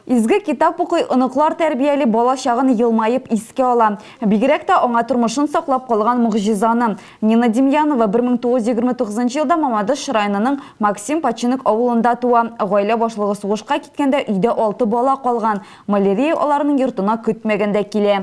Изге китап укый, оныклар тәрбияли, бала чагын елмаеп искә ала. Бигрәк тә аңа тормышын саклап калган могҗизаны. Нина Демьянова 1929 елда Мамадыш районының Максим Починок авылында туа. Гаилә башлыгы сугышка киткәндә өйдә алты бала калган. Малярия аларның йортына көтмәгәндә килә.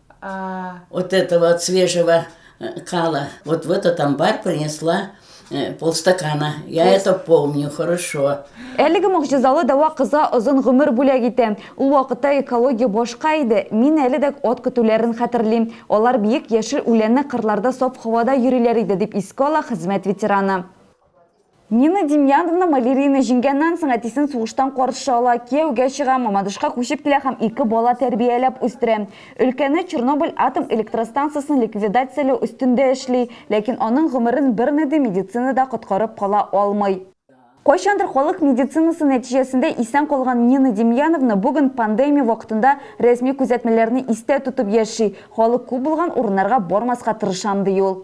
Вот этого от свежего э, кала. Вот в этот амбар принесла э, полстакана. Я Пол... это помню хорошо. Әлеге могҗизалы дәва кызга озын гомер бүләк итә. Ул вакытта экология башка иде. Мин әле дә от көтүләрен хәтерлим. Алар биек яшел үләнне кырларда саф һавада йөриләр иде, дип искә ала хезмәт ветераны. Нина Демьяновна Малерина җиңгәннән соң әтисен сугыштан каршы ала, кияүгә чыга, Мамадышка күчеп килә һәм ике бала тәрбияләп үстерә. Өлкәне Чернобыль атом электростанциясен ликвидацияләү өстендә эшли, ләкин аның гомерен берни дә медицина да коткарып кала алмый. Кайчандыр халык медицинасы нәтиҗәсендә исән калган Нина Демьяновна бүген пандемия вакытында рәсми күзәтмәләрне истә тотып яши, халык күп булган урыннарга бармаска тырышам, ди ул.